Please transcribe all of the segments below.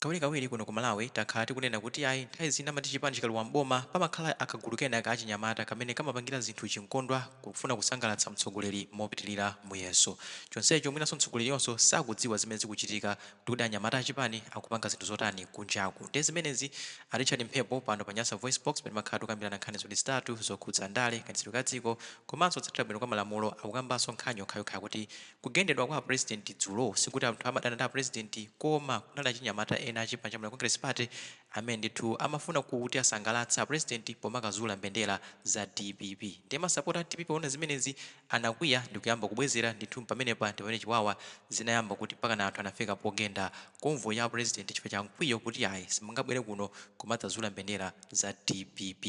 Kawirikawiri kuno ku Malawi takhala tikunena kuti ayi nthawi zina amati chipani chikalowa m'boma pamakhala kagulu kena kachinyamata kamene kamapangira zinthu chinkondwa kufuna kusangalatsa mtsogoleri mopitilira muyeso chonsecho mwinanso mtsogoleriyoso sakudziwa zimene zikuchitika kuti anyamata achipani akupanga zinthu zotani kunjaku nde zimenezi a Richard Mphepo pano pa Nyasa VoiceBox pamene timakhala tikukambirana nkhani ziwiri zitatu zokhudza ndale, kayendetsedwe ka dziko komanso kutsatira bwino kwa malamulo akukambanso nkhani yokhayokhayo kuti Kugendedwa kwa a president dzulo sikuti anthu amadana ndi a president koma kunali achinyamata ena achipani cha Malawi Congress Party amene ndithu amafuna kuti asangalatse a president pomakazula mbendera za dpp ndiye masapota a dpp poona zimenezi anakwiya ndikuyamba kubwezera ndithu pamenepa ndipamene chiwawa zinayamba kuti mpakana anthu anafika pogenda convoy ya a president chifukwa cha mkwiyo kuti ayi simungabwere kuno kumadzazula mbendera za dpp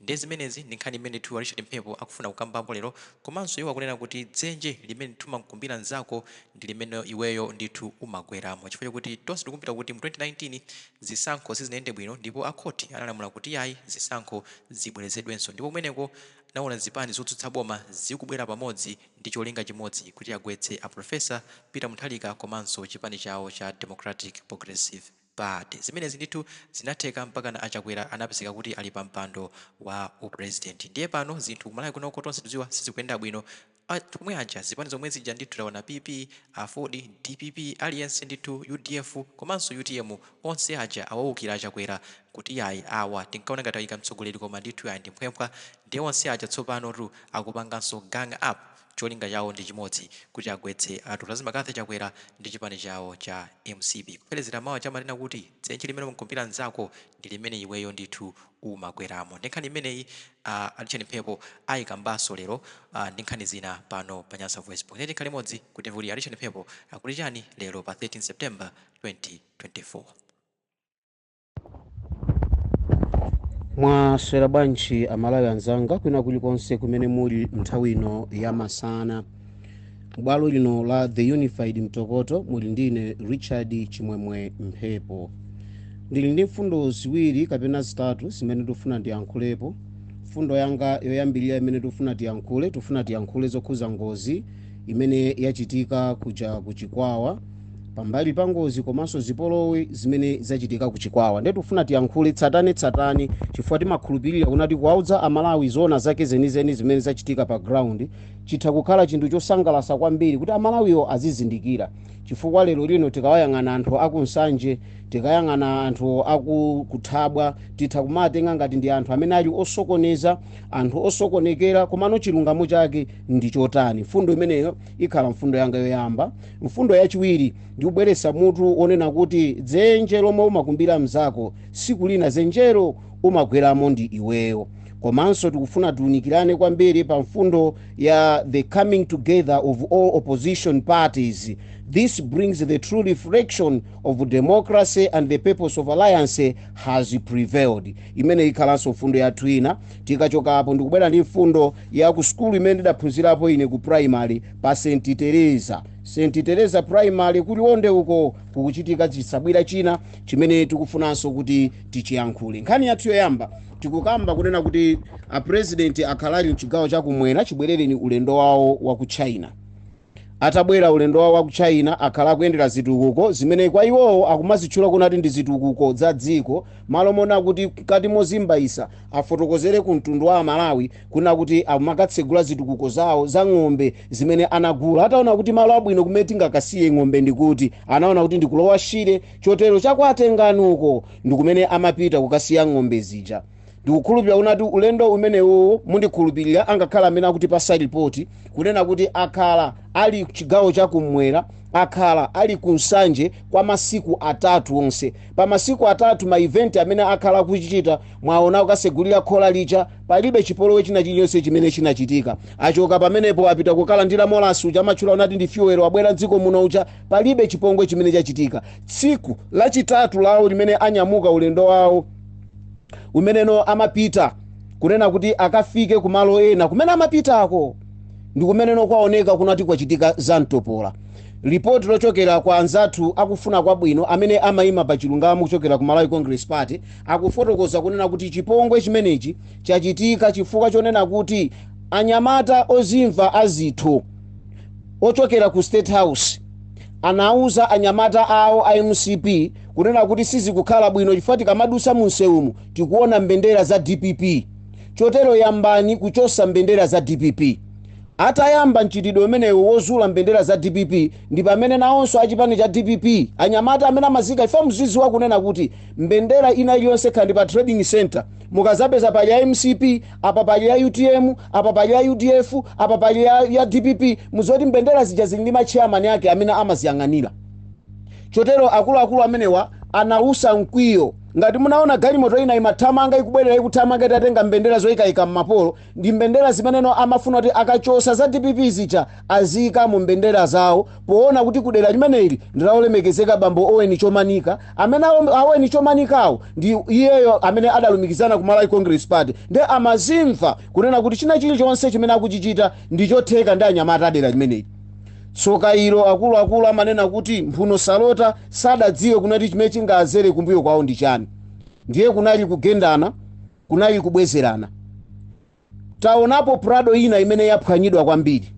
Ndiye zimenezi ndi nkhani imene ndithu a Richard Mphepo akufuna kukambapo lero komanso iwo akunena kuti dzenje limene ndithu umamkumbira nzako ndi limene iweyo ndithu umagweramo chifukwa chakuti tonse tikukumbukira kuti mu 2019 zisankho sizinayende bwino ndipo a khothi analamula kuti iyayi zisankho zibwerezedwenso ndipo kumeneko tinawona zipani zotsutsa boma zikubwera pamodzi ndi cholinga chimodzi kuti agwetse a Professor Peter Munthalika komanso chipani chawo cha Democratic Progressive Party zimenezi ndithu zinatheka mpakana a Chakwera anapezeka kuti ali pa mpando wa u president. Ndiye pano zinthu ku Malawi kunoko tonse tikudziwa sizikuyenda bwino. Omwe aja zipani zomwe zija ndithu taona PP, aford, dpp aliyense ndithu udf komanso utm onse aja awaukira a Chakwera kuti yayi awa tinkaona ngati ayika mtsogoleri koma ndithu yayi ndi mphwemphwa. Ndiye onse aja tsopanotu akupanganso gang up. cholinga chawo ndi chimodzi kuti agwetse a Lazarus McCarthy Chakwera ndi chipani chawo cha mcp kupherezera mawu aja amanena kuti dzenje limene umkumbira nzako ndi limene iweyo ndithu umagweramo ndi nkhani imeneyi a Richard Mphepo ayikambaso lero a ndi nkhani zina pano pa Nyasa VoiceBox tiyeni tikhale limodzi kuti timve kuti a Richard Mphepo akuti chani lero pa 13 September 2024. mwaswera bwanji amalawi anzanga kwina kulikonse kumene muli nthawi ino ya masana bwalo lino la the unified mtokoto muli ndine richard chimwemwe mphepo ndili ndi mfundo ziwiri kapena zitatu zimene tikufuna tiyankhulepo mfundo yanga yoyambirira imene tikufuna tiyankhule tikufuna tiyankhule zokhuza ngozi imene yachitika kuja ku chikwawa pambali pa ngozi komanso zipolowe zimene zachitika ku chikwawa nde tifuna tiyankhule tsatane tsatane chifukwa timakhulupirira kunena kuti kuwaudza amalawi zoona zake zenizeni zimene zachitika pa ground chitha kukhala chinthu chosangalasa kwambiri kuti amalawiwo azizindikira chifukwa lero lino tikawayang'ana anthu aku nsanje tikayang'ana anthu aku Thabwa titha kumawatenga ngati ndi anthu amene ali osokoneza anthu osokonekera komano chilungamo chake ndi chotani mfundo imeneyo ikhala mfundo yanga yoyamba mfundo yachiwiri ndikubweretsa mutu onena kuti dzenje lomwe umakumbira mzako siku lina zenjero umagweramo ndi iweyo komanso tikufuna tiunikirane kwambiri pa mfundo ya the coming together of all opposition parties this brings the true reflection of democracy and the purpose of alliance has prevailed imeneyi ikhalanso mfundo yathu ina tikachokapo ndikubwera ndi mfundo ya ku sukulu imene ndidaphunzirapo ine ku primary pa st teresa st teresa primary ku liwonde uko kukuchitika chisabwira china chimene tikufunanso kuti tichiyankhule nkhani yathu yoyamba tikukamba kunena kuti apurezidenti akhala ali mchigawo chakumwera chibwerereni ulendo wawo wa ku china Atabwera ulendo wawo wa ku China akhala akuyendera zitukuko zimene kwa iwowo akumazitchula kunati ndi zitukuko za dziko malo moona kuti mkati mozimbaisa afotokozere ku mtundu wa Amalawi kunena kuti akumakatsegula zitukuko zawo za ng'ombe zimene anagula ataona kuti malo abwino kumene tingakasiye ng'ombe ndi kuti anaona kuti ndi ku Lower Shire chotero cha kwa Tengani uko ndi kumene amapita kukasiya ng'ombe zija. ndikukhulupirira kunati ulendo umenewowo mundikhulupirira angakhale amene akutipasa ripoti kunena kuti akhala ali chigawo chakumwera akhala ali ku nsanje kwa masiku atatu onse pa masiku atatu ma event amene akhala akuchita mwaona kukasegulira khola lija palibe chipolowe china chilichonse chimene chinachitika achoka pamenepo apita kukalandira molasi uja amatchula kunati ndi fyuwero wabwera mdziko muno uja palibe chipongwe chimene chachitika tsiku lachitatu lawo limene anyamuka ulendo wawo kumeneno amapita kunena kuti akafike kumalo ena kumene amapitako ndi kumeneno kwaoneka kunati kwachitika za mtopola lipoti lochokera kwa anzathu akufuna kwabwino amene amayima pa chilungamo kuchokera ku malawi congress party akufotokoza kunena kuti chipongwe chimenechi chachitika chifukwa chonena kuti anyamata ozimva azitho ochokera ku state house anauza anyamata awo a mcp kunena kuti sizikukhala bwino chifukwa tikamadusa munsewumu tikuona mbendera za dpp chotero yambani kuchosa mbendera za dpp atayamba mchitidwe umenewo wozula mbendera za dpp ndi pamene nawonso achipani cha dpp anyamata amene amazika ife mziziwa kunena kuti mbendera ina iliyonse khandi pa trading center mukazapeza pali ya mcp apa pali ya utm apa pali ya udf apa pali ya, ya dpp muzoti mbendera zija zili ndi matcheyamani ake amene amaziyang'anira Chotero akuluakulu amenewa anawusa mkwiyo. Ngati munawona galimoto ina imathamanga, ikubwerera, ikuthamanga itatenga mbendera zoyikaika mmapolo, ndi mbendera zimenezo amafuna kuti akachosa za dpp zija aziyika mu mbendera zawo, powona kuti kudera limeneli ndi la olemekezeka bambo Owen Chomanika, amene a Owen Chomanikawo ndi iyeyo amene adalumikizana ku Malawi Congress Party, nde amazimva kunena kuti china chilichonse chimene akuchichita ndi chotheka ndi anyamata a dera limeneli. Tsoka ilo, akuluakulu amanena kuti mphuno salota, sadadziwe kunati chimene chingaazere kumbuyo kwawo ndi chani. Ndiye kunali kugendana, kunali kubwezerana. Taonapo Prado ina imene yaphwanyidwa kwambiri.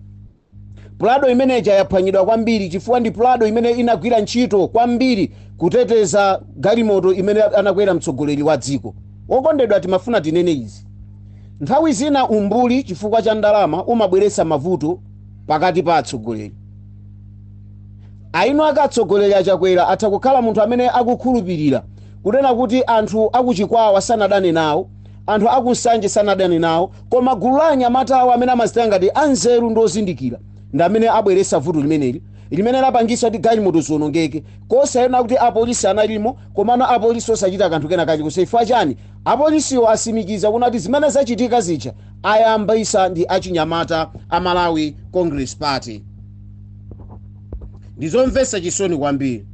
Prado imene ija yaphwanyidwa kwambiri chifukwa ndi Prado imene inagwira ntchito kwambiri kuteteza galimoto imene anakwera mtsogoleri wa dziko. Okondedwa, timafuna tinene izi. Nthawi zina umbuli chifukwa cha ndalama umabweretsa mavuto pakati pa atsogoleri Ayineyake atsogoleri a Chakwera atha kukhala munthu amene akukhulupirira kunena kuti anthu aku Chikwawa sanadane nawo anthu aku Nsanje sanadane nawo koma gulu la anyamata awo amene amazitenga ngati anzeru ndi ozindikira ndi amene abweresa vuto limeneli limene lapangisa kuti galimoto zionongeke osanena kuti apolisi analimo, komano apolisi osachita kanthu kena kalikonse chifukwa chani apolisiwo asimikiza kunati zimene zachitika zija ayambisa ndi achinyamata a malawi congress party ndizomvesa chisoni kwambiri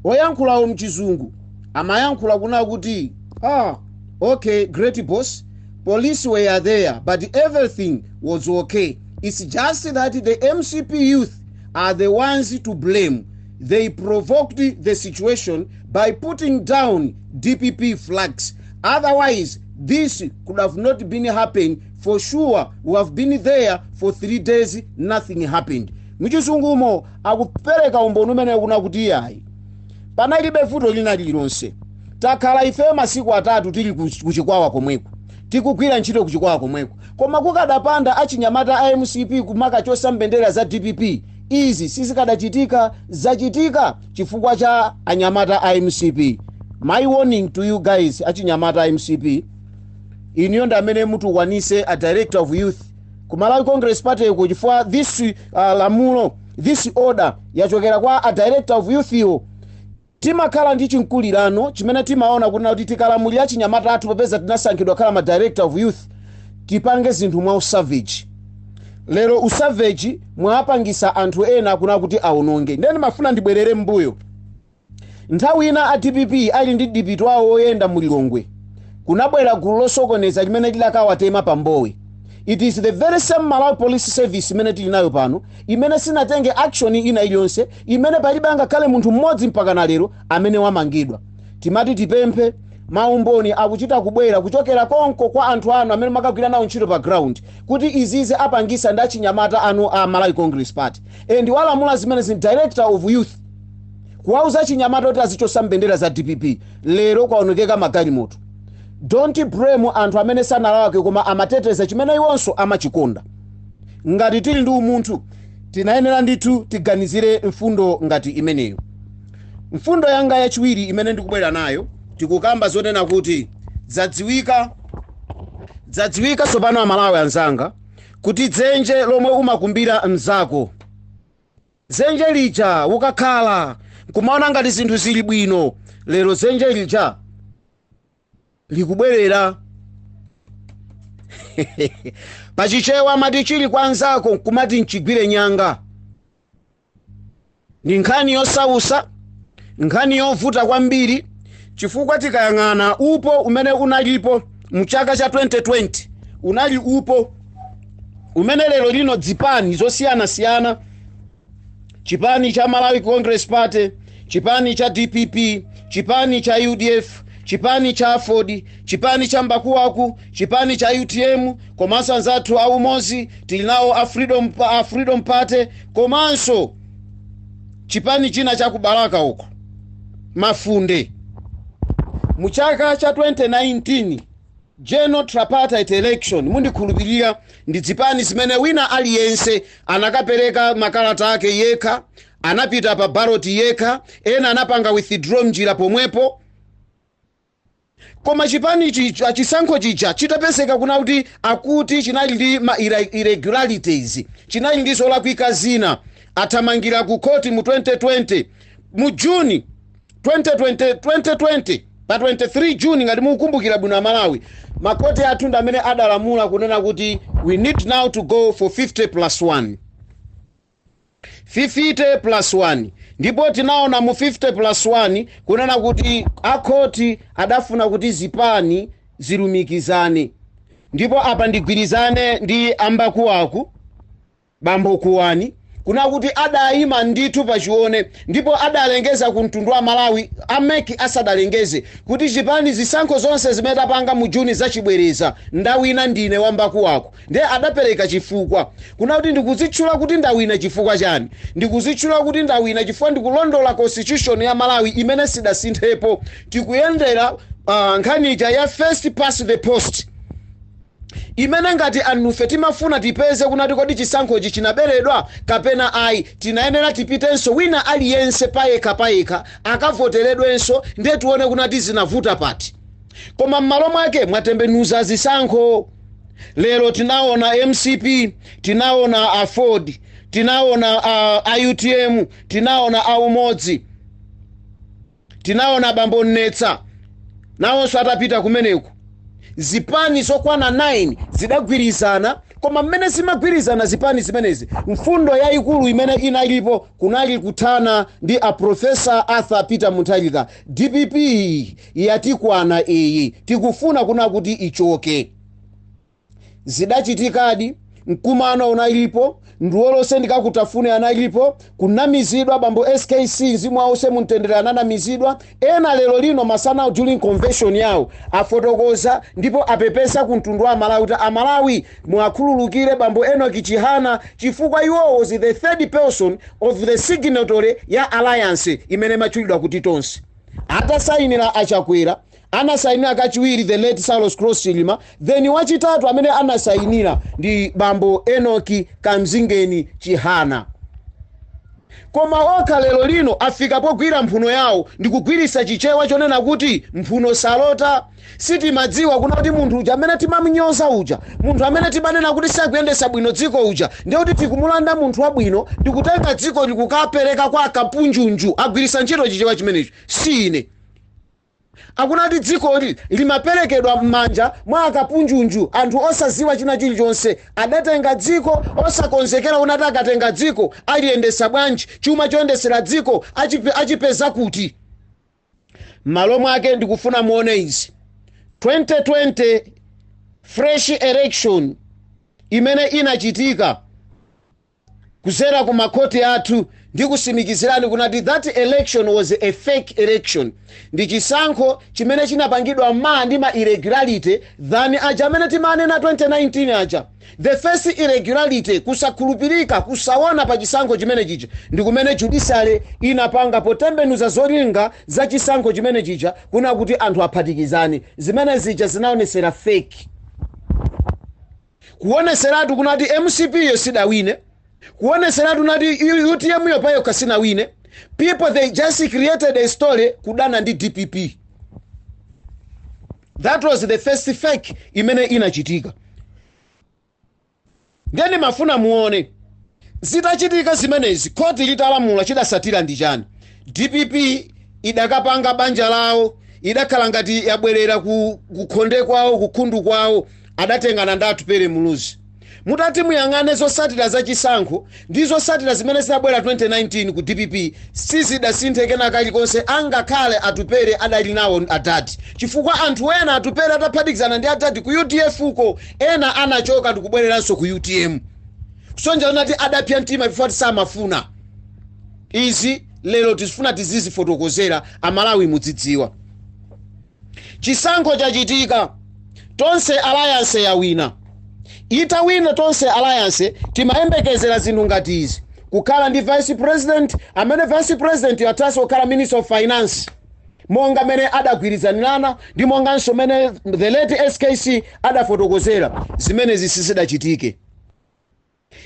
oyankhulawo mchizungu amayankhula kuna kuti ah okay great boss police were there but everything was okay it's just that the mcp youth are the ones to blame they provoked the situation by putting down Dpp flags otherwise this could have not been happened for sure we have been there for three days nothing happened muchizungumo akupereka umboni umene kuna kuti iyayi panalibe vuto lina lililonse takhala ife masiku atatu tili ku- kuchikwawa komweko tikugwira ntchito kuchikwawa komweko koma kukadapanda achinyamata a mcp kumakachosa mbendera za dpp izi sizikadachitika zachitika chifukwa cha anyamata a mcp my warning to you guys achinyamata a mcp iniyo ndi amene mutukwanise a director of youth ku malawi congress party ko chifukwa this uh, lamulo this order yachokera kwa a director of youth wo timakhala ndi chimkulirano chimene timaona kunena kuti tikalamulira achinyamata athu popeza tinasankhidwa khala ma director of youth tipange zinthu mwa usavage lero usavage mwapangisa anthu ena akuna kuti aononge ndiye ndimafuna ndibwerere mbuyo nthawi ina a dpp ali ndi demo awo oyenda mu lilongwe kunabwera gulu losokoneza limene lidakawatema pa mbowe it is the very same malawi police service imene tili nayo pano imene sinatenge action ina iliyonse imene palibe angakhale munthu mmodzi mpaka na lero amene wamangidwa timati tipemphe maumboni akuchita kubwera kuchokera konko kwa anthu anu amene makagwira nawo ntchito pa ground kuti izizizi apangisa ndi achinyamata anu a Malawi Congress Party and walamula zimenezi ndi director of youth kuwauza achinyamata kuti azichosa mbendera za dpp lero kwaonekeka magalimoto don't blame anthu amene sanalakwe koma amateteza chimene iwonso amachikonda ngati tili ndi umunthu tinayenera ndithu tiganizire mfundo ngati imeneyo mfundo yanga yachiwiri imene ndikubwera nayo tikukamba zonena kuti zadziwika Dzadziwika tsopano amalawi anzanga kuti dzenje lomwe umakumbira mzako dzenje lija ukakhala nkumaona ngati zinthu zili bwino lero dzenje lija likubwerera pachichewa amati chili kwa nzako nkumati chigwire nyanga Ndi nkhani yosausa, nkhani yovuta kwambiri chifukwa tikayang'ana upo umene unalipo mchaka cha 2020 unali upo umene lero lino zipani zosiyanasiyana chipani cha Malawi Congress Party, chipani cha DPP, chipani cha UDF, chipani cha Aford, chipani cha Mbakuwaku, chipani cha UTM komanso anzathu a Umodzi tili nawo a Freedom, a Freedom Party komanso chipani china cha ku balaka uko mafunde mu chaka cha 2019 general tripartite election ndikukhulupirira ndi zipani zimene wina aliyense anakapereka makalata ake yekha anapita pa ballot yekha ena anapanga withdraw mnjira pomwepo Koma chipani chi, chisankho chija chitapezeka kuna kuti akuti chinali ndi ma irre- irregularities, chinali ndi zolakwika zina, athamangira ku court mu 2020 mu June 2020, 2020 pa 23 June ngati mukukumbukira bwino Amalawi, makoti athu ndi amene adalamula kunena kuti we need now to go for 50 plus 1. 50 plus 1 ndipo tinaona mu 50 plus 1 kunena kuti akhoti adafuna kuti zipani zilumikizane ndipo apa ndigwirizane ndi ambakuwaku bambo kuwani kunena kuti adayima ndithu pachione ndipo adalengeza ku mtundu wa amalawi a mec asadalengeze kuti chipani zisankho zonse zimene tapanga mu juni zachibwereza ndawina ndine wambakuwaku Ndiye adapereka chifukwa, kunena kuti ndikudzitchula kuti ndawina chifukwa chani? Ndikudzitchula kuti ndawina chifukwa ndikulondola constitution ya Malawi imene sidasinthepo. Tikuyendera uh, nkhani ija ya first past the post imene ngati anufe timafuna tipeze kunati kodi chisankhochi chinaberedwa kapena ayi tinayenera tipitenso wina aliyense payekha payekha akavoteredwenso ndiye tione kunati zinavuta pati koma m'malo mwake mwatembenuza zisankho lero tinaona mcp tinaona aford tinaona a, a utm tinaona a umodzi tinaona bambo nnesa nawonso atapita kumeneku zipani zokwana 9 zidagwirizana koma mmene zimagwirizana zipani zimenezi mfundo yayikulu imene inalipo kunali kuthana ndi a profesa arthur peter mutharika dpp Yatikwana iyi tikufuna kuna kuti ichoke. Zidachitikadi, mkumano unalipo, ndi onse mungatafune analipo, kunamizidwa bambo skc mzimu wawo uuse mumtendere ananamizidwa, ena lero lino masanawo during convention yawo afotokoza ndipo apepesa ku mtundu wa amalawi kuti amalawi muwakhululukire bambo enock chihana chifukwa iwowo was the third person of the signatory ya alliance imene imatchulidwa kuti tonse. Atasainira a Chakwera, anasainira kachiwiri the late Saulos Klaus Chilima, then wachitatu amene anasainira ndi bambo Enock Kamzingeni Chihana. Koma okha lero lino afika pogwira mphuno yawo ndikugwiritsa chichewa chonena kuti mphuno salota. Sitimadziwa kuna kuti munthu uja amene timamunyoza uja, munthu amene timanena kuti sakuyendesa bwino dziko uja, ndiye kuti tikumulanda munthu wabwino ndikutenga dziko ndikukapereka kwa akapunjunju, agwirisa ntchito chichewa chimenecho, si ine. Akuna kuti dzikoli limaperekedwa mmanja mwa akapunjunju, anthu osaziwa china chilichonse, adatenga dziko osakonzekera kuna kuti akatenga dziko aliyendesa bwanji, chuma choyendesera dziko achipeza kuti. M'malo mwake ndikufuna muone izi, 2020 fresh election imene inachitika kuzera ku makhoti athu ndikusimikizirani kunati that election was a fake election ndi chisankho chimene chinapangidwa ma ndi ma irregularity than aja amene timanena 2019 aja The first irregularity, kusakhulupirika, kusaona pa chisankho chimene chija, ndi kumene judiciary inapanga potembenuza zolinga za chisankho chimene chija kuna kuti anthu aphatikizane. Zimene zija zinaonetsera fake. Kuonetseratu kunati mcp yo sidawine. Kuonetseratu kunati utm yo payokha sinawine. People they just created a story kudana ndi dpp. That was the first fake imene inachitika. Ndiye ndimafuna muone zitachitika zimenezi khoti litalamula chidasatira ndi chani dpp idakapanga banja lawo idakhala ngati yabwerera kukhonde kwawo kukhundu kwawo adatengana ndi atupere muluzi Mutati muyang'ane zosatira za chisankho ndi zosatira zimene zinabwera 2019 ku dpp sizidasinthe kena kalikonse angakhale Atupele adali nawo adad chifukwa anthu ena Atupele ataphatikizana ndi adad ku udf ko ena anachoka ndikubwereranso ku utm kusonyeza kuti adapsa mtima chifukwa kuti samafuna izi lero tizifuna tizizifotokozera amalawi mudzidziwa. Chisankho chachitika, Tonse Alliance yawina. Itawina Tonse Alliance, timayembekezera zinthu ngati izi, Kukhala ndi Vice President, amene Vice Presidentyo athanso kukhala Minister of Finance, monga mene adagwirizanirana ndi monganso mene the late skc adafotokozera, zimenezi sizidachitike.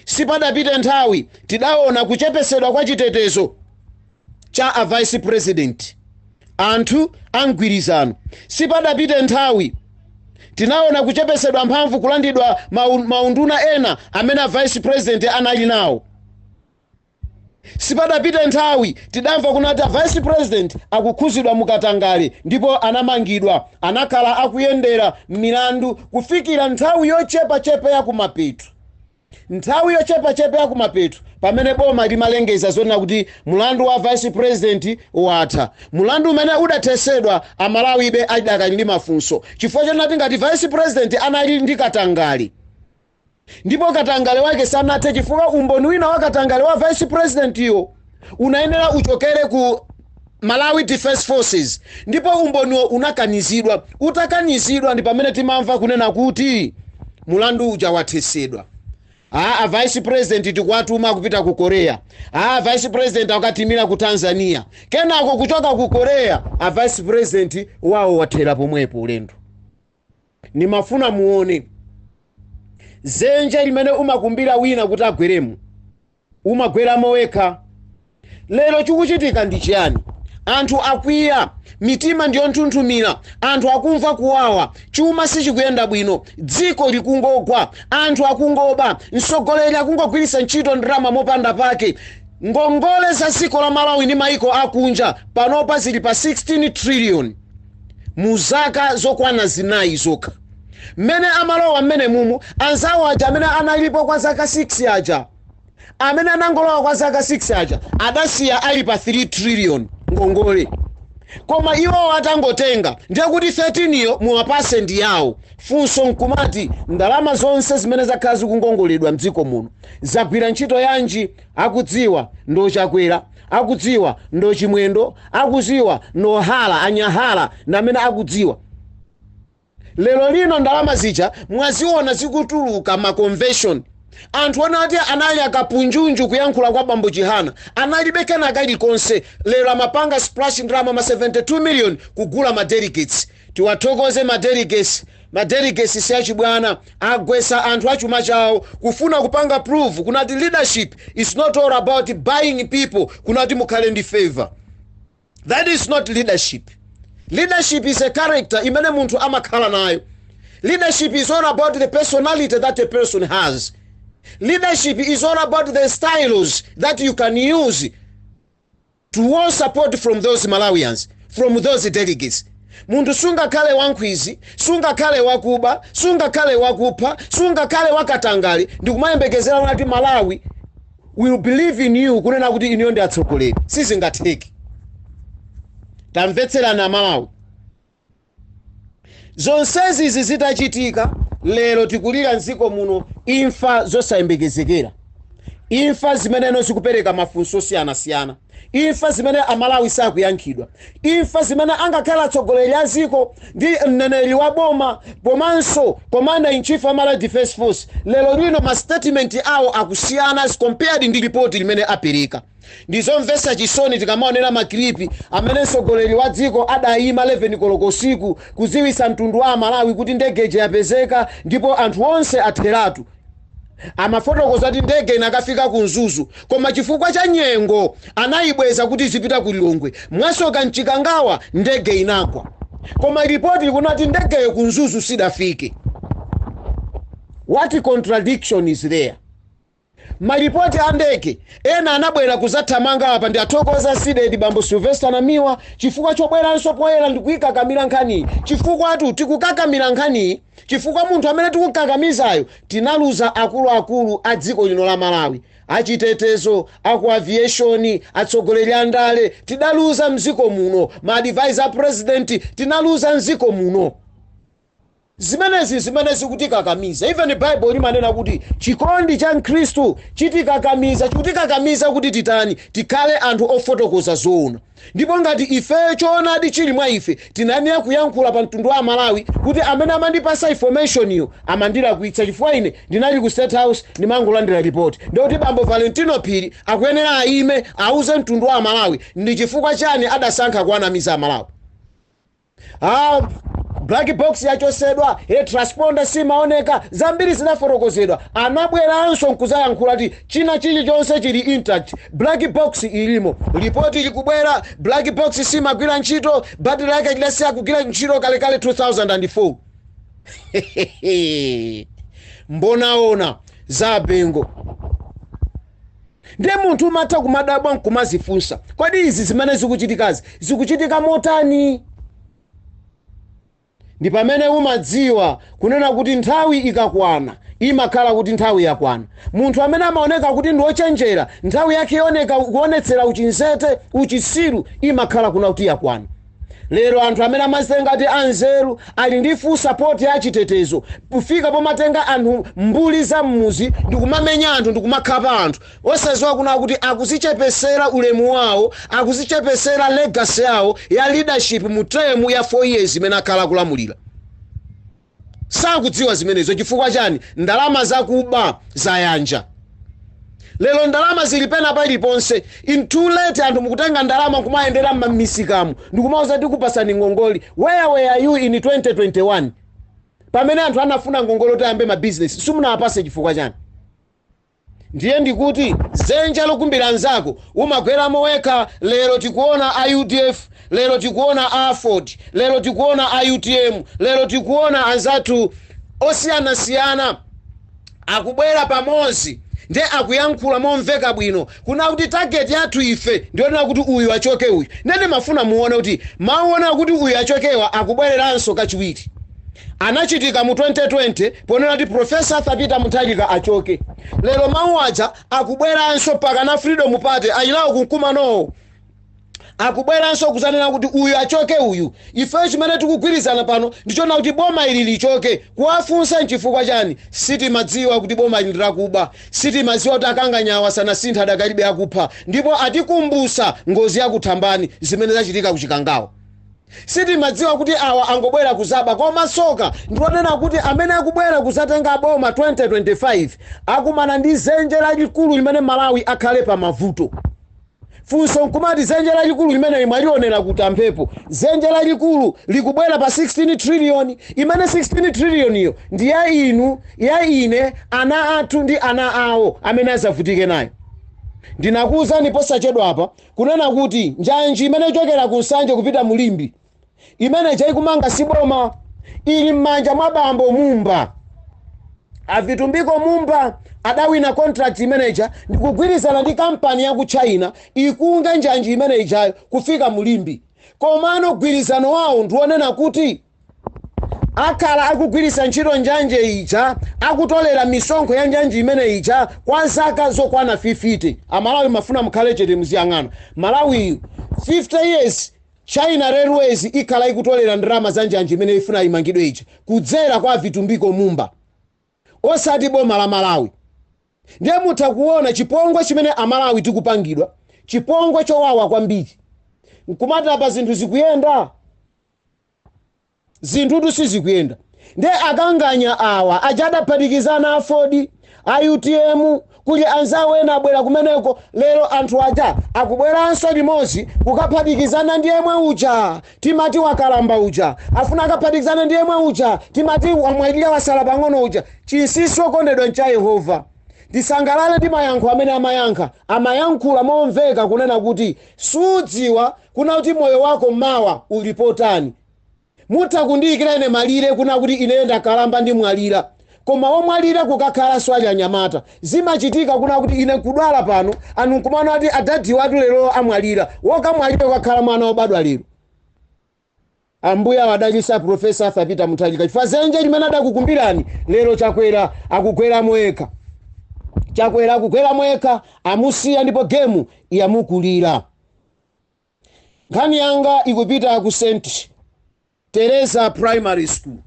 Sipadapite nthawi tidaona kuchepesedwa kwa chitetezo cha a vice president, anthu a mgwirizano. Sipadapite nthawi tinaona kuchepesedwa mphamvu kulandidwa maunduna ena amene a vice president anali nawo. Sipadapite nthawi tidamva kunena kuti a vice president akukhuzidwa mu katangale ndipo anamangidwa. Anakhala akuyendera milandu kufikira nthawi yochepachepa ya kumapeto nthawi yochepachepa ya kumapeto pamene boma limalengeza zonena kuti mulandu wa vice president watha. Mulandu umene udathesedwa amalawibe adakali ndi mafunso chifukwa chonena kuti ngati vice president anali ndi katangale, Ndipo katangale wake sanathe chifukwa umboni wina wa katangale wa vice president yo unayenera uchokere ku Malawi Defence Forces ndipo umboniwo unakanizidwa, utakanizidwa ndi pamene timamva kunena kuti mulandu uja wathesedwa. Aaa a vice president tikuwatuma kupita ku Korea, aaa vice president akatimira ku Tanzania, kenako kuchoka ku Korea a vice president wawo wathera pomwepo ulendo. Ndimafuna muone zenje limene umakumbira wina kuti agweremo, umagweramo wekha. Lero chikuchitika ndi chiyani? Anthu akwiya, mitima ndi yonthunthumira, anthu akumva kuwawa, chuma sichikuyenda bwino, dziko likungogwa, anthu akungoba, mtsogoleri akungogwiritsa ntchito ndalama mopanda pake. Ngongole za dziko la Malawi ndi maiko akunja panopa zili pa 16 trillion. mu zaka zokwana zinayi zokha mmene amalowa mmenemumu anzawo aja amene analipo kwa zaka 6 aja amene anangolowa kwa zaka 6 aja adasiya ali pa 3 trillion ngongole koma iwowo atangotenga ndiye kuti 13 yo mwabasi ndi yawo funso nkumati ndalama zonse zimene zakhala zikungongoledwa mdziko muno zagwira ntchito yanji akudziwa ndi Chakwera akudziwa ndi Chimwendo akuziwa ndo hala anyahala namene akudziwa lero lino ndalama zija mwaziona zikutuluka maconvention anthu onati anali akapunjunju kuyankhula kwa bambo chihana analibe kena kalikonse lero akupanga splash ndalama ma 72 million kugula ma delegates Tiwathokoze ma delegates, ma delegates siachibwana, agwetsa anthu achuma chawo kufuna kupanga prove kunati leadership is not all about buying people kunati mukhale ndi favour. That is not leadership. Leadership is a character imene munthu amakhala nayo. Leadership is all about the personality that a person has. Leadership is all about the styles that you can use to woo support from those Malawians, from those delegates. Munthu sungakhale wankhwizi, sungakhale wakuba, sungakhale wakupha, sungakhale wakatangale ndikumayembekezera unati Malawi will believe in you kunena kuti inuyo ndi atsogoleri. Sizingatheke. Tamvetserani a Malawi. Zonsezi izi zitachitika, lero tikulira m'dziko muno imfa zosayembekezekera, imfa zimene zikupereka mafunso osiyanasiyana, imfa zimene Amalawi sakuyankhidwa, imfa zimene angakhale atsogoleri a dziko ndi mneneri wa boma komanso Commander in Chief wa Malawi Defence Force lero lino ma statement awo akusiyana as compared ndi report limene apereka. Ndi zomvesa chisoni tikamaonera ma clip amene mtsogoleri wa dziko adayima 11 koloko usiku kudziwitsa mtundu wa amalawi kuti ndege ija yapezeka ndipo anthu onse atheratu. Amafotokoza kuti ndege inakafika ku Mzuzu koma chifukwa cha nyengo anayibweza kuti izipita ku Lilongwe. Mwasoka m'Chikangawa ndege inagwa. Koma report ikunena kuti ndegeyo ku Mzuzu sidafike. What contradiction is there? Malipoti a ndege ena anabwera kuzathamanga apa ndiwathokoze a CDEDI bambo Sylvester Namiwa chifukwa chobweranso poyera ndikuikakamira nkhaniyi chifukwatu tikukakamira nkhaniyi chifukwa munthu amene tikukakamizayo tinaluza akuluakulu a dziko lino la Malawi, achitetezo, aku aviation, atsogoleri a ndale tidaluza mziko muno, ma advisor a president tinaluza mziko muno. Zimenezi nzimene zikutikakamiza. Even Bible limanena kuti chikondi cha Khristu chitikakamiza, chikutikakamiza kuti titani? Tikhale anthu ofotokoza zoona. Ndipo ngati ifeyo choonadi chili mwa ife, tinayenera kuyankhula pa mtundu wa Amalawi kuti amene amandipasa information yo amandilakwitsa chifukwa ine ndinali ku state house ndimangolandira report. Ndiye kuti bambo Valentino Phiri akuyenera ayime auze mtundu wa Amalawi ndi chifukwa chani adasankha kuwanamiza Amalawi. Aaa black box yachosedwa ee transponder simaoneka zambiri zidafotokozedwa anabweranso nkuzayankhula kuti china chilichonse chili intact black box ilimo lipoti likubwera black box simagwira ntchito battery lake lidasiya kugwira ntchito kalekale 2004 hehehe mbonaona za abengo. Ndiye munthu umatha kumadabwa n'kumadzifunsa, kodi izi zimene zikuchitikazi zikuchitika motani? Ndi pamene umadziwa kunena kuti nthawi ikakwana, imakhala kuti nthawi yakwana. Munthu amene amaoneka kuti ndi wochenjera, nthawi yake yooneka kuonetsera uchinzete, uchitsiru, imakhala kuna kuti yakwana. Lero anthu amene amazitenga ati anzeru ali ndi full support ya chitetezo kufika pomatenga anthu mbuli za mmuzi ndikumamenya anthu ndikumakhapa anthu osaziwa kuna kuti akuzichepesera ulemu wawo akuzichepesera legacy yawo ya leadership mu term ya 4 years imene akhala akulamulira. sakudziwa zimenezo chifukwa chani ndalama zakuba zayanja lero ndalama zili pena paliponse in too late anthu mukutenga ndalama kumayendera mmamisikamu ndikumauza tikupasani ngongole where were you in 2021 pamene anthu anafuna ngongole kuti ayambe mabizinesi simunawapase chifukwa chani Ndiye ndikuti zenja lokumbira nzako umagweramo wekha lero tikuona a UDF lero tikuona a AFORD lero tikuona a UTM lero tikuona anzathu osiyanasiyana akubwera pamodzi nde akuyankhula momveka bwino kunena kuti target yathu ife ndiyonena kuti uyu achoke uyu nde ndimafuna muone kuti mau onena kuti uyu achokewa akubwereranso kachiwiri. Anachitika mu 2020 ponena kuti Professor Arthur Peter Mutharika achoke. Lero mau aja akubweranso pakana a Freedom Party ali nawo ku mkumanowo. Akubweranso kudzanena kuti uyu achoke uyu. Ifeyo chimene tikugwirizana pano ndichonena kuti boma ili lichoke. Kuwafunsa nchifukwa chani? Sitimadziwa kuti boma ili ndilakuba. Sitimadziwa kuti akanganya awa sanasinthe adakalibe akupha. Ndipo atikumbusa ngozi ya ku Thambani zimene zachitika ku Chikangawa. Sitimadziwa kuti awa angobwera kuzaba koma tsoka ndilonena kuti amene akubwera kuzatenga boma 2025 akumana ndi zenje lalikulu limene Malawi akhale pamavuto. Funso nkumati zenje lalikulu limeneli mwalionera kuti a Mphepo? Zenje lalikulu likubwera pa 16 trillion imene 16 trillion yo ndi ya inu, ya ine, ana athu ndi ana awo amene azavutike nayo. Ndinakuuzani posachedwapa Kunena kuti njanji imene ichokera ku Nsanje kupita mu Limbe imene ija ikumanga si boma, ili m'manja mwa bambo Mumba. A Vitumbiko Mumba adawina contract imene ija ndi kugwirizana ndi kampani ya ku China ikonze njanji imene ijayo kufika mu Limbe. Komano mgwirizano wawo ndi wonena kuti akhale akugwiritsa ntchito njanji ija akutolera misonkho ya njanji imene ija kwa zaka zokwana 50 amalawi mumafuna mukhale chete muziyang'ana malawiyu 50 years china railways ikhala ikutolera ndalama za njanji imene ifuna imangidwe ija kudzera kwa vitumbiko mumba osati boma la malawi ndiye mutha kuona chipongwe chimene amalawi tikupangidwa chipongwe chowawa kwambiri nkumati apa zinthu zikuyenda zinthutu sizikuyenda nde a mgwirizano awa aja adaphatikizana aford a utm kuli anzawo ena abwera kumeneko lero anthu aja akubweranso limodzi kukaphatikizana ndi yemwe uja timati wakalamba uja afuna akaphatikizane ndi yemwe uja timati wamwalira wasala pang'ono uja chinsinsi okondedwa ncha yehova tisangalale ndi mayankho amene amayankha amayankhula momveka kunena kuti sudziwa kuna kuti moyo wako mawa uli pa otani. Mutha kundiyikira ine malire kuna kuti ineyo ndakalamba ndimwalira koma womwalira kukakhalanso ali anyamata. Zimachitika kuna kuti ine nkudwala pano anu nkumaona kuti adadiwatu lero amwalira. Wokamwalira kukakhala mwana wobadwa lero. Ambuye awadalitse a Prof. Arthur Peter Mutharika chifukwa dzenje limene adakukumbirani lero Chakwera akugweramo yekha. Chakwera akugweramo yekha amusiya ndipo game yamukulira. Nkhani yanga ikupita ku St Teresa Primary School.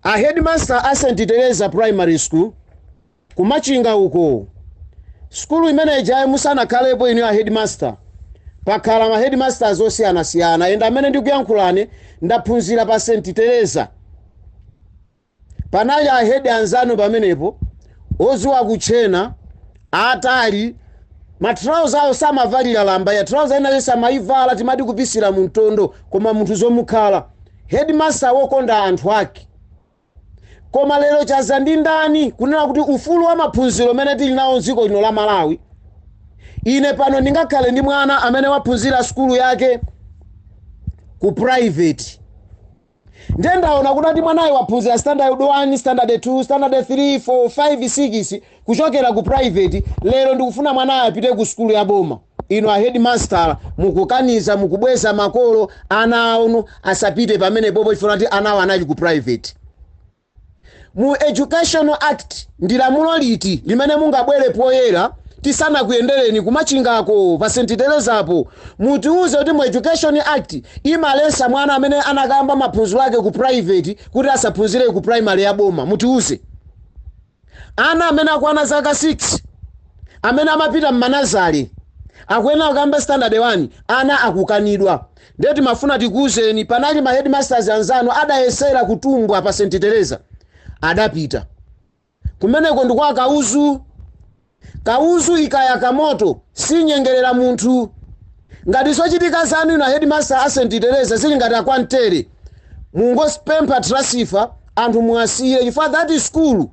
A headmaster a St Teresa Primary School Ku Machinga uko. Sukulu imene ijayi musanakhalepo inuyo a headmaster, pakhala ma headmasters osiyanasiyana and amene ndikuyankhulane ndaphunzira pa St Teresa. Panali a head anzanu pamenepo odziwa kutchena, aatali, ma trouser awo samavalira lamba ya trouser ina iliyonse amayivala timati kupisira mu mtondo koma munthu zomukhala. Headmaster wokonda anthu ake. Koma lero chaza ndi ndani kunena kuti ufulu wa maphunziro umene tili nawo m'dziko lino la Malawi? Ine pano ndingakhale ndi mwana amene waphunzira sukulu yake ku private. Ndiye ndaona kuti mwanayo waphunzira standard 1, standard 2, standard 3, 4, 5, 6 kuchokera ku private, lero ndikufuna mwanayo apite ku sukulu ya boma. Inu a headmaster mukukaniza mukubweza makolo ana anu asapite pamenepopo chifukwa choti anawo anali ku private. Mu educational act ndi lamulo liti limene mungabwere poyera tisanakuyendereni kumachingako pa St Terezapo mutiuze kuti mu education act imaletsa mwana amene anakayamba maphunziro ake ku private kuti asaphunzire ku primary ya boma mutiuze. Ana amene akwana zaka 6 amene amapita mmanazale akuyenera kuyamba standard 1 anawo akukanidwa ndiye timafuna tikuuzeni panali ma headmasters anzanu adayesera kutumbwa pa st tereza adapita kumeneko ndi kwa kauzu Kauzu ikayaka moto sinyengerera munthu. Ngati zochitika zanu inu a Headmaster a St Tereza zili ngati a Kwantere, mungozipempha transfer anthu muwasiyire chifukwa that school,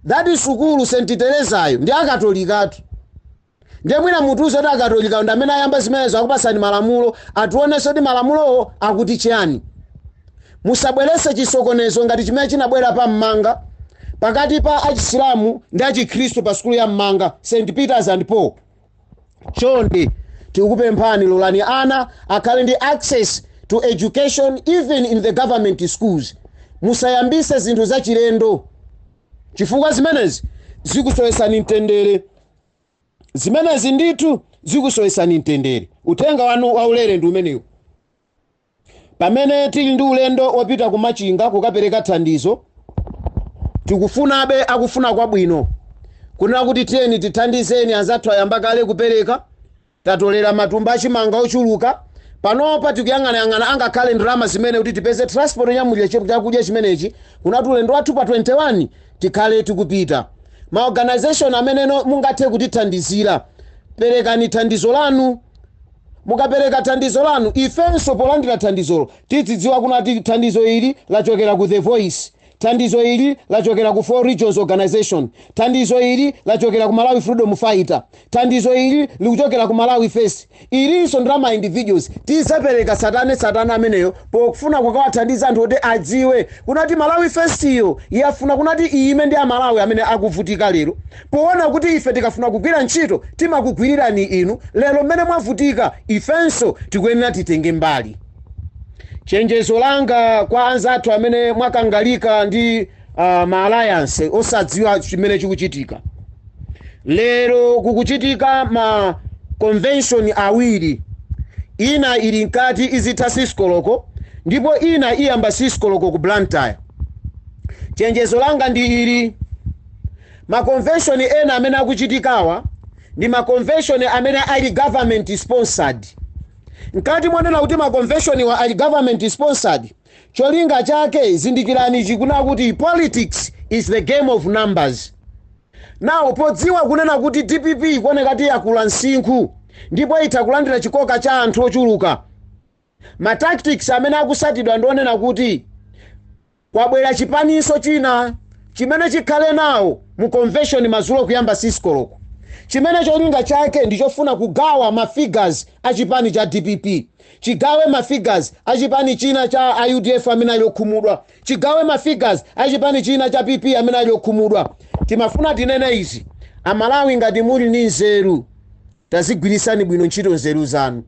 that sukulu St Terezayo ndi ya Katolikatu. Ndiye mwina mutiuze kuti Akatolikawo ndi amene ayamba zimenezo akupatsani malamulo, ationetse kuti malamulowo akuti chiyani. Musabweretse chisokonezo ngati chimene chinabwera pa m'manga pakati pa a Chisilamu ndi a Chikhristu pa sukulu ya m'manga, St. Peters and Paul. Chonde tikupemphani lolani ana akhale ndi access to education even in the government schools. Musayambitse zinthu zachilendo chifukwa zimenezi zikusowetsani mtendere. Zimenezi ndithu zikusowetsani mtendere. Uthenga wanu waulere ndi umenewu. Pamene tili ndi ulendo opita ku Machinga kukapereka thandizo, tikufunabe akufuna kwabwino kunena kuti tiyeni tithandizeni anzathu ayamba kale kupereka, tatolera matumba achimanga ochuluka, panopa tikuyang'anayang'ana angakhale ndalama zimene kuti tipeze transport yonyamulira chakudya chimenechi kunena kuti ulendo wathu pa 21 tikhale tikupita. Ma organization amene mungathe kutithandizira, perekani thandizo lanu. Mukapereka thandizo lanu, ifenso polandira thandizolo tidzidziwa kunati thandizo ili lachokera ku The Voice, thandizo ili lachokera ku 4 Regions Organisation, thandizo ili lachokera ku Malawi Freedom Fighter, thandizo ili likuchokera ku Malawi First, ilinso ndi la ma individuals. Tidzapereka tsatane tsatane ameneyo pokufuna kukawathandiza anthu kuti adziwe kunati Malawi First yo yafuna kunati iyime ndi a Malawi amene akuvutika lero. Poona kuti ife tikafuna kugwira ntchito timakugwirirani inu, lero mmene mwavutika ifenso tikuyenera titenge mbali. Chenjezo langa kwa anzathu amene mwakangalika ndi uh, ma alliance osadziwa chimene chikuchitika lero kukuchitika ma convention awiri ina ili mkati izitha 6 koloko ndipo ina iyamba 6 koloko ku Blantyre chenjezo langa ndi ili Makonveshoni ena amene akuchitikawa ndi makonveshoni amene ali government sponsored. Mkati monena kuti makonveshoniwa ali government sponsored, cholinga chake zindikirani ichi kunena kuti politics is the game of numbers. Now podziwa kunena kuti dpp ikuoneka kuti yakula msinkhu ndipo itha kulandira chikoka cha anthu ochuluka, ma tactics amene akutsatidwa ndi onena kuti, Kwabwera chipaninso china chimene chikhale nawo mu convention madzulo kuyamba 6 koloko chimene cholinga chake ndi chofuna kugawa ma figures a chipani cha dpp, chigawe ma figures a chipani china cha a udf amene ali okhumudwa, chigawe ma figures a chipani china cha PP amene ali okhumudwa. Timafuna tinene izi, a Malawi ngati muli ndi nzeru tazigwiritsani bwino ntchito nzeru zanu.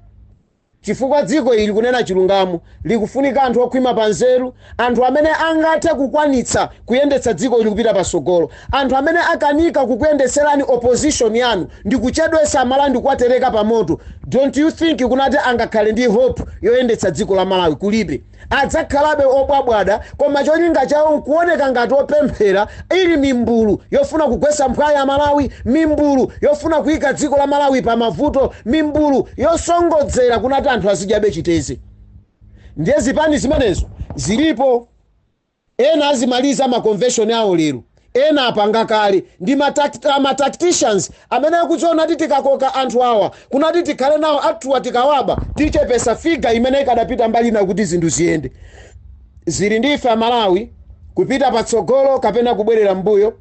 Chifukwa dziko ili kunena chilungamo likufunika anthu okhwima pa nzeru, anthu amene angathe kukwanitsa kuyendetsa dziko ili kupita patsogolo. Anthu amene akanika kukuyendetserani opposition yanu ndikuchedwetsa a Malawi ndikuwatereka pa moto, don't you think kunena kuti angakhale ndi hope yoyendetsa dziko la Malawi? Kulibe. adzakhalabe obwabwada koma cholinga chawo nkuoneka ngati opemphera ili mimbulu yofuna kugwesa mphwayi a Malawi, mimbulu yofuna kuika dziko la Malawi pa mavuto, mimbulu yosongodzera kunena kuti anthu azidyabe chiteze. Ndiye zipani zimenezo zilipo. Ena azimaliza ma convention awo lero, ena apanga kale, ndi ma a ma tacticians amene akudziona kuti tikakoka anthu awa kunena kuti tikhale nawo anthuwa tikawaba tichepesa figure imene ikadapita mbali ina kuti zinthu ziyende. Zili ndi ife a Malawi kupita patsogolo kapena kubwerera mmbuyo.